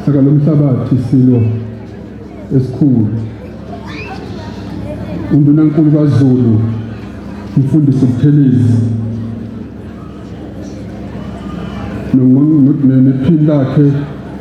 Saka lomhlabathi silo esikhulu. UNdunankulu kaZulu umfundisi uButhelezi nephini lakhe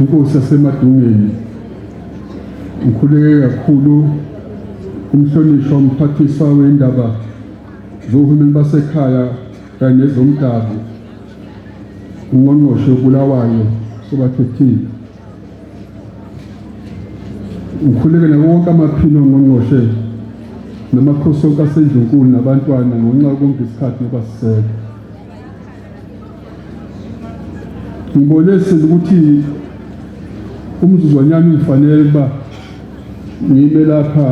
inkosi yaseMadungeni ngikhuleke kakhulu umhlonishwa umphathiswa wendaba zohulumeni basekhaya kanye nezomdabu ungqongqoshe uBulawayo sobakhethile ngikhuleke nawo wonke amaphini ongqongqoshe namakhosi onke asendlunkulu nabantwana ngonxa yokonke isikhathi nobasiseka ngibone sile ukuthi umzuzwanyana ungifanele ukuba ngime lapha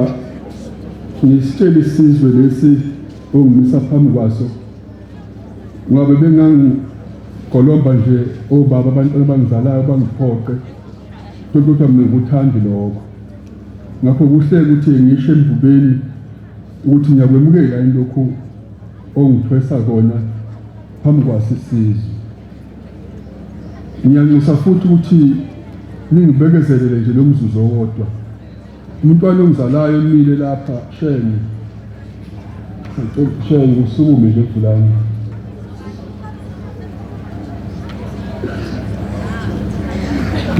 ngisitshele isizwe lesi ongimisa phambi kwaso Ngoba bengangigolomba nje obaba abantu abangizalayo bangiphoqe kodwa mina ngikuthandi lokho. Ngakho kuhle ukuthi ngisho emvubeni ukuthi ngiyakwemukela lokhu ongithwesa kona phambi kwasisizwe. Ngiyanxusa futhi ukuthi ningibekezelele nje lo mzuzu owodwa. Umntwana ongizalayo umile lapha shenge. Shenge usukume nje fulani.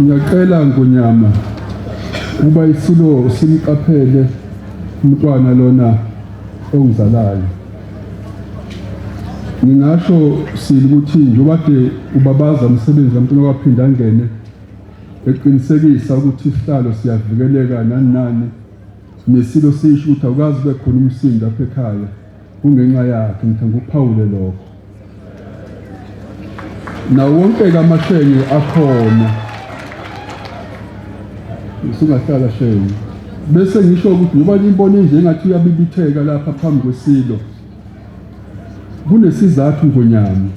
Ngiyacela ngonyama ukuba isilo simqaphele umntwana lona ongizalayo. Ngingasho sili ukuthi njengoba ke ubabaza umsebenzi kaMntwana waphinde angene eqinisekisa ukuthi isihlalo siyavikeleka nani nani nesilo sisho ukuthi awukazi ube khona umsindo apha ekhaya kungenxa yakhe ngithe ngikuphawule lokho nawo wonke-ke amahlenge akhona usungahlala shenge bese ngisho ukuthi ngoba nimbona enjengathi uyabibitheka lapha phambi kwesilo Kunesizathu ngonyama.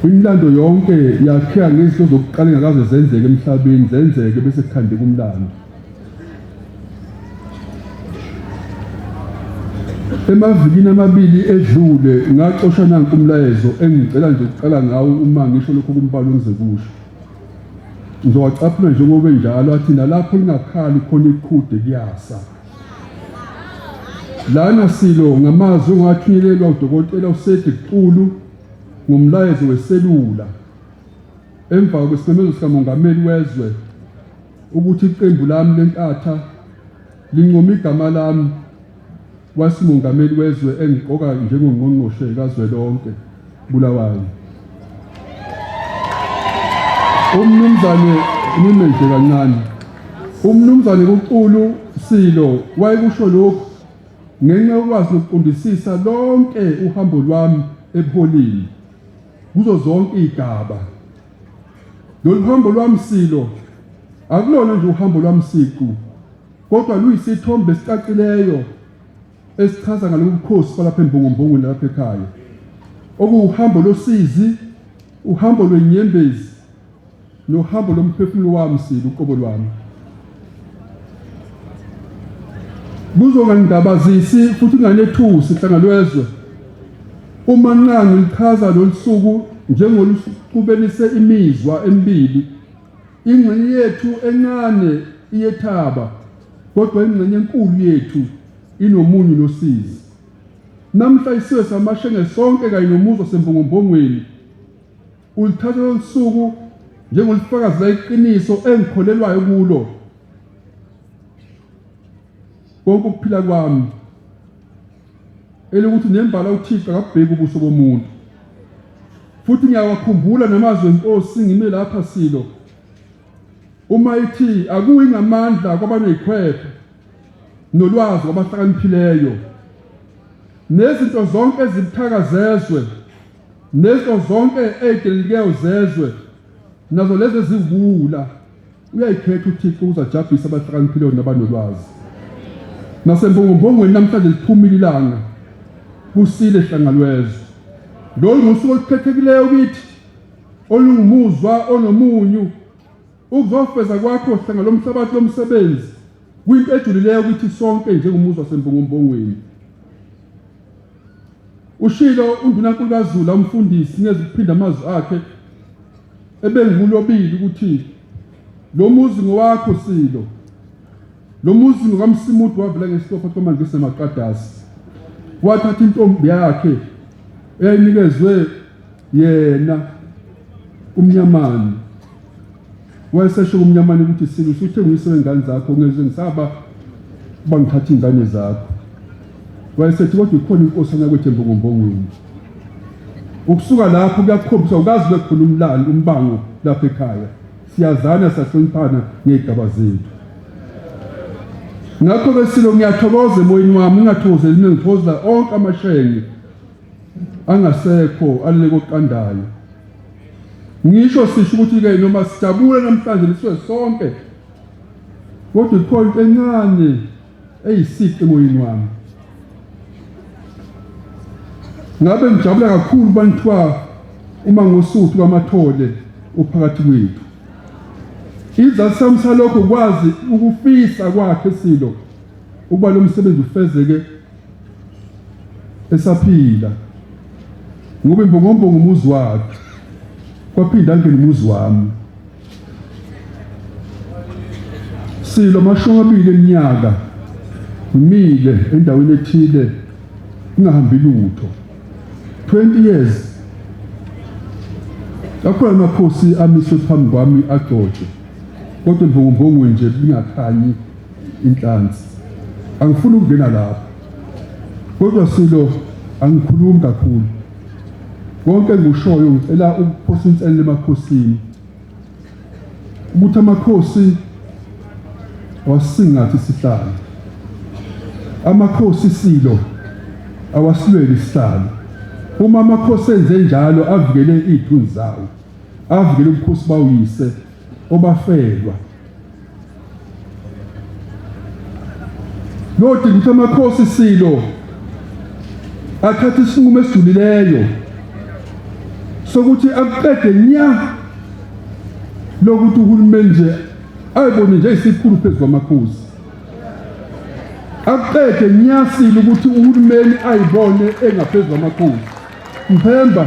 Imilando yonke yakheka ngezinto zokuqala engakaze zenzeke emhlabeni zenzeke bese kukhandeka umlando. Emavikini amabili edlule ngacosha nanku umlayezo engicela nje ukuqala ngawo uma ngisho lokho kumbalo ngize kusho. Ngizowacaphuna njengoba enjalo athi nalapho lingakhali khona iqhude kuyasa. Lana silo ngamazwi ongathunyelelwa udokotela uSedi Xulu ngomlayezo weselula emva kwesimemezelo sikamongameli wezwe ukuthi iqembu lami lenkatha lincoma igama lami wasimongameli wezwe engiqoka njengongqongqoshe kazwelonke Bulawayo. Umnumzane ngimeje kancane. Umnumzane kuCulu Silo wayekusho lokhu ngenxa yokwazi nokuqondisisa lonke uhambo lwami ebuholini kuzo zonke igaba. Lolu hambo lwami Silo akulona nje uhambo lwami siqu kodwa luyisithombe esicacileyo esichaza ngalobu bukhosi balapha embongombongweni nalapha ekhaya okuwuhambo losizi uhambo lwenyembezi nohambo lomphefumulo wami sili uqobo lwami kuzongangibabazisi futhi kunganethusi hlangalwezwe uma nqangi lichaza lolusuku njengolusubenise imizwa emibili ingxenye yethu encane iyethaba kodwa ingxenye enkulu yethu inomunyu nosizi. Namhla isizwe samashenge sonke kanye nomuzi wasembongombongweni ulithatha lolu suku njengolifakazi layiqiniso engikholelwayo kulo konke ukuphila kwami elokuthi nembala uThixo akabheki ubuso bomuntu futhi ngiyawakhumbula namazwi enkosi ngime lapha silo Uma ithi akuyi ngamandla kwabanezikhwepha nolwazi kwabahlakaniphileyo nezinto zonke ezibuthaka zezwe nezinto zonke ezidelelikeyo zezwe nazo lezi eziwuwula uyayikhetha uthixo ukuzajabhisa abahlakaniphileyo nabanolwazi nasemphongophongweni namhlanje liphumile ilanga kusile hlangalwezwe lolu ngusuku olukhethekileyo kithi olungumuzwa onomunyu ukuzofeza kwakho hlanga lomhlabathi lomsebenzi kwinto ejulileyo ukuthi sonke njengomuzwa sembongombongweni ushilo undunankulu kazula umfundisi ngezikuphinda amazwi akhe ebengulobili ukuthi lo muzi ngowakho silo lo muzi ngokamsimudu wavela ngesitofo komangise maqadasi wathatha intombi yakhe eyayinikezwe yena umnyamani wayesesho kumnyamani ukuthi silo usuthe nguyise wengane zakho ngeze ngisaba uba ngithatha iy'ngane zakho wayesethi kodwa ikhona inkosi anyakwethu embongombongweni ukusuka lapho kuyakhombisa ukazi bekhona umlando umbango lapha ekhaya siyazana siyahloniphana ngey'gaba zethu ngakho besilo ngiyathokoza emoyeni wami ngingathokozeli mina ngithokozela onke amashenge angasekho alele koqandayo ngisho sisho ukuthi ke noma sijabule namhlanje niswe sonke kodwa ikhona into encane eyisiqi emoyeni wami ngabe ngijabula kakhulu banthiwa uma ngosuthu kwamathole uphakathi kwethu izathu sami salokho kwazi ukufisa kwakhe silo ukuba lo msebenzi ufezeke esaphila ngoba imbongombongo umuzi wakhe kwaphinda angena umuzi wami silo amashumi amabili eminyaka ngimile endaweni ethile kungahambi lutho 20 years akhona amakhosi amiswe phambi kwami agcotshwe kodwa imvungumvungu nje lingakhanyi inhlansi. Angifuni ukungena lapho. Kodwa Silo angikhulumi kakhulu. Konke engikushoyo ngicela ukuphosa inselelo emakhosini. Ukuthi amakhosi wasingathi isihlalo. Amakhosi Silo awasilweli isihlalo. Uma amakhosi enze njalo avikele izithunzi zawo. Avikele ubukhosi bawuyise obafelwa. Lodinga ukuthi amakhosi silo athathe isinqumo esijulileyo sokuthi akuqede nya lokuthi uhulumeni nje ayibone nje isikhulu phezu kwamakhosi akuqede nyasile ukuthi uhulumeni ayibone engaphezu kwamakhosi mphemba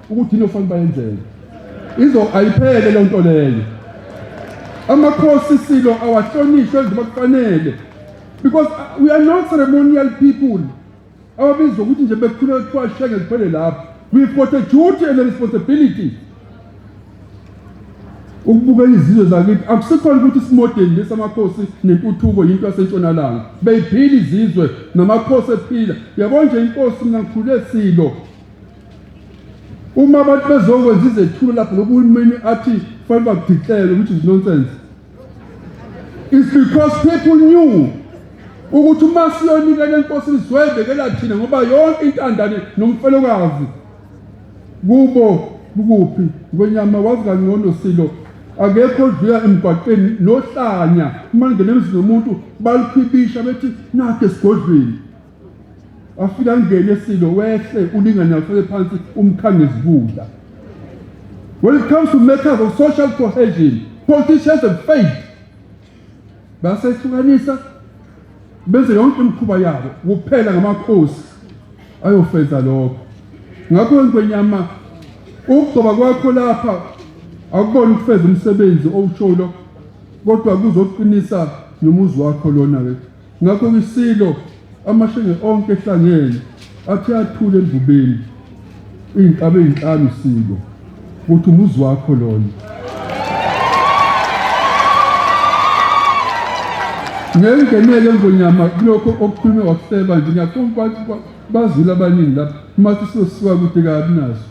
ukuthi yini okufanele bayenzele izo ayiphele lento leyo amakhosi silo awahlonishwe enze bakufanele because uh, we are not ceremonial people ababizwa ukuthi nje bekhuleka kuthiwa shenge ziphele lapho we've got a duty and a responsibility ukubuka izizwe zakithi akusikhona ukuthi isimodeli lesamakhosi nentuthuko yinto yasentshonalanga beyiphila izizwe namakhosi ephila yabona nje inkosi mina ngikhule silo Uma abantu bezokwenza izethulo lapho lokhu uhulumeni athi kufanele bakudiclele which is nonsense. It's because people knew ukuthi uma siyonikela enkosini sizoyibekela thina ngoba yonke intandane nomfelokazi kubo kukuphi ngwenyama wazi kangcono silo akekho odlula emgwaqeni nohlanya uma ngena emzini womuntu balukhibisha bethi nakhe esigodlweni wafika ngene silo wehle ulingane afike phansi umkhange izibula when it comes to matters of social cohesion politicians have failed basehlukanisa benze yonke imikhuba yabo kuphela ngamakhosi ayofeza lokho ngakho ngwenyama ukugcoba kwakho lapha akubona ukufeza umsebenzi owusholo kodwa kuzoqinisa nomuzi wakho lona ke Ngakho ngisilo amahlenge onke ehlangene athi athule emvubeni iy'nkabe ey'nhlanu silo ukuthi umuzi wakho lona ngengenele ngonyama kulokho okukhulume wakuseba nje ngiyaqonda ukuthi bazile abaningi lapha uma sisosiwa kude kabi naso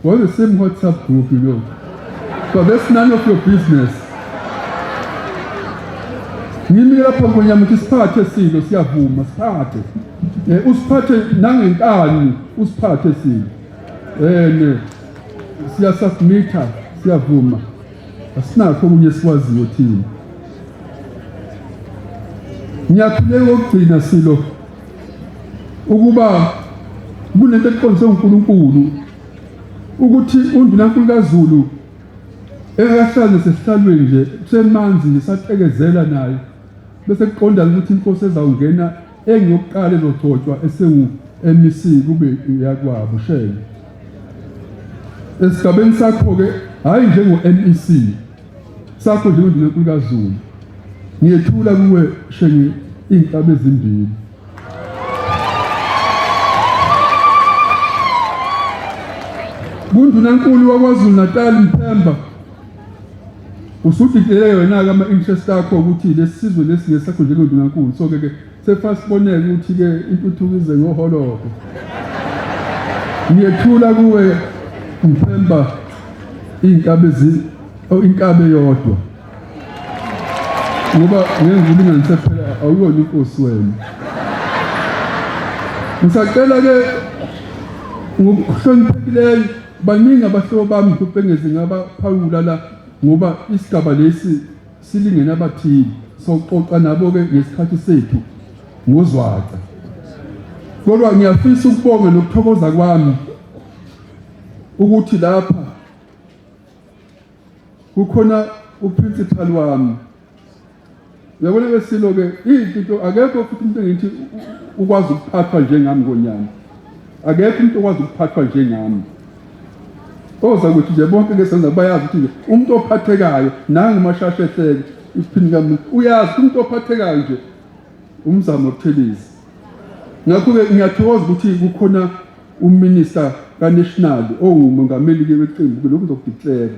We're the same WhatsApp group, you know. But that's none of your business. Ngimi lapha ngonyama ukuthi siphathe silo siyavuma siphathe. Eh usiphathe nangenkani usiphathe silo. Eh ne siya submitter siyavuma. Asinakho okunye sikwaziyo thina. Ngiyaphuleka ukugcina silo ukuba kunento eqondiswe uNkulunkulu ukuthi undunankulu kaZulu engakahlali sesihlalweni nje kusemanzi ngisatekezela naye bese kuqonda ukuthi inkosi ezawungena engiyokuqala ezogcotshwa esewu MEC kube iyakwabo shele esigabeni sakho ke hayi njengo MEC sakho njengondunankulu kazulu ngiyethula kuwe shenge iy'nhlaba ezimbili kundunankulu wakwazulu natal mthemba usudidele yona-ke ama-interest akho ukuthi lesi sizwe lesi ngesakho njengondunankulu so-ke ke Sefasibonela ukuthi-ke intuthuko ize ngoholobo. Ngiyethula kuwe Mphemba iy'nkabi oh, inkabi eyodwa ngoba ngenza ulinganise phela awuyona inkosi wena ngisacela-ke ngokuhloniphekileyo baningi abahlobo bami ngihluphengezi ngabaphawula la ngoba isigaba lesi Silingene abathile soxoxa nabo ke ngesikhathi sethu ngozwaca. Kodwa ngiyafisa ukubonga nokuthokoza kwami ukuthi lapha kukhona uprincipal wami uyabona ke silo ke into akekho futhi umuntu engithi ukwazi ukuphathwa njengami ngonyana Akekho umuntu okwazi ukuphathwa njengami. Oza ukuthi nje bonke ke senza bayazi ukuthi nje umuntu ophathekayo nangu mashashe ehleke isiphini kamuntu uyazi umuntu ophathekayo nje umzamo obuthelezi. Ngakho-ke ngiyathokoza ukuthi kukhona uminista kaNational owumongameli-ke weqembu-ke lokhu ngizokudikilera.